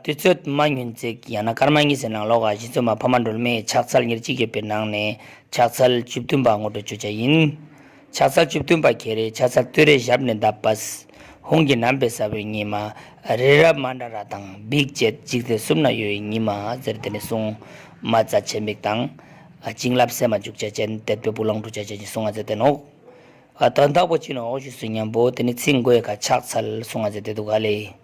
དུས་ཚོད་མ་ཉུང་བརྩེགས་ཡང་ན་སྐར་མ་གཉིས་ཟེར་ནང་ལོགས་ཀ་བཞི་ཚོད་མ་ཕ་མ་སྒྲོལ་མས་ཕྱག་འཚལ་ཉེར་གཅིག་ཡོད་པའི་ནང་ནས་ཕྱག་འཚལ་བཅུ་བདུན་པ་ངོ་སྤྲོད་བྱོས་བྱ་ཡིན། ཕྱག་འཚལ་བཅུ་བདུན་པ་གྱེས་རེས་ཕྱག་འཚལ་བསྟོད་རེས་ཞབས་ནས་བརྡབས་པས། ཧུང་གི་ནམ་པའི་ས་བོན་ཉི་མ། རི་རབ་མ་འདྲ་ར་དང་འབིགས་བཅས་འཇིག་རྟེན་གསུམ་ན་ཡོད་ཡིན་ཉི་མ་ཟེར་དེ་ནས་བཟུང། མ་རྩ་ཆེ་མིག་དང། བྱིན་རླབས་སད་མ་འཇུག་བྱ་ཅན་དད་པའི་བུ་ལོངས་སྤྲུག་བྱ་ཅན་གྱི་གསུང་ང་ཟེར་དེ་ནོ། དོན་དག་པོ་ཅི་ནོ་འོག་ཞུས་སུ་སྙམ་པོ་དེ་ནི་ཚིག་མགོ་ཡལ་ག་ཕྱག་འཚལ་གསུང་ང་ཟེར་དེ་འདུག་ག་ལས།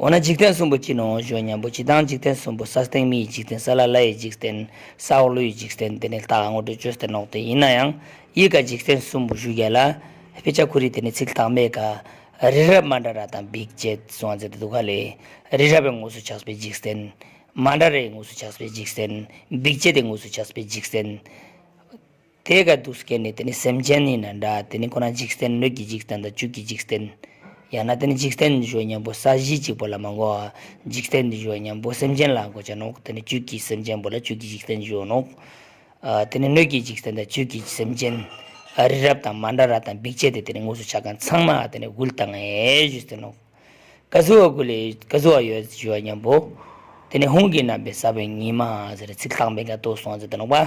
འོ་ན་འཇིག་རྟེན་གསུམ་པོ་ཅི་ནུའོ་བརྗོད་སྙམ་པོ་ཅི་ལྟའང་འཇིག་རྟེན་གསུམ་པོ་ས་སྟེང་མི་ཡི་འཇིག་རྟེན་ས་བླ་བླ་ཡི་འཇིག་རྟེན་ས་འོག་ཀླུ་ཡི་འཇིག་རྟེན་དེ་ནི་རྟགས་དངོས་གྲོལ་བརྗོད་སྟེ་ནོག་སྟེ་ཡིན་ན་ཡང་ཡིད་དགའ་འཇིག་རྟེན་གསུམ་པོ་ཞུ་རྒྱལ་ལ། དཔེ་ཆ་ཁུ་རི་དེ་ནི་ཚིག་རྟགས་མེད་ཀ། རི་རབ་མ་འདྲ་ར་དང་འབིགས་བཅས་གསུང་བ་མཛད་དུ་འདུག་ག་ལས། རི་རབ་པའི་ངོས་སུ་ཆགས་པའི་འཇིག་རྟེན། མ་འདྲ་རའི་ངོས་སུ་ཆགས་པའི་འཇིག་རྟེན། འབིགས་བཅས་དེ་ངོས་སུ་ཆགས་པའི་འཇིག་རྟེན། དེ་ཀ་དུག་སྐྱེ་ནི་དེ་ནི་སེམས་ཅན་ནི་ན་འདྲ་དེ་ནི་ཁོ་ན་འཇིག་རྟེན་སྣོད་ཀྱི་འཇིག་རྟེན་དང་བཅུད་ཀྱི་འཇིག་རྟེན། ཡང་ན་དེ་ནི་འཇིག་རྟེན་འདི་ཞུ་བ་མཉམ་པོ་ས་གཞི་གཅིག་པོ་ལ་མ་འགོ་བ། འཇིག་རྟེན་འདི་ཞུ་བ་མཉམ་པོ་སེམས་ཅན་ལ་འགོ་བྱ་ནོ། དེ་ནི་བཅུད་ཀྱི་སེམས་ཅན་པོ་ལ་བཅུད་ཀྱི་འཇིག་རྟེན་ཞུ་བ་ནོ། དེ་ནི་སྣོད་ཀྱི་འཇིག་རྟེན་དང་བཅུད་ཀྱི་སེམས་ཅན། རི་རབ་དང་མ་འདྲ་ར་དང་འབིགས་བྱེད་དེ་དེ་ནི་དངོས་སུ་ཆ་གང་ཚང་མ་དེ་ནི་དབུལ་དང་ཡོད་ཚད་ནོ། ཀ་གཟུ་བ་ཀུ་ལས་ཀ་གཟུ་བ་ཡོད་ཞུ་བ་མཉམ་པོ། དེ་ནི་ཧུང་གི་རྣམ་པའི་ས་བོན་ཉིད་མ་ཟེར་ཚིག་རྟག་འབེན་ཀ་ཏོ་སོང་ཚད་དུ་ནོག་པ།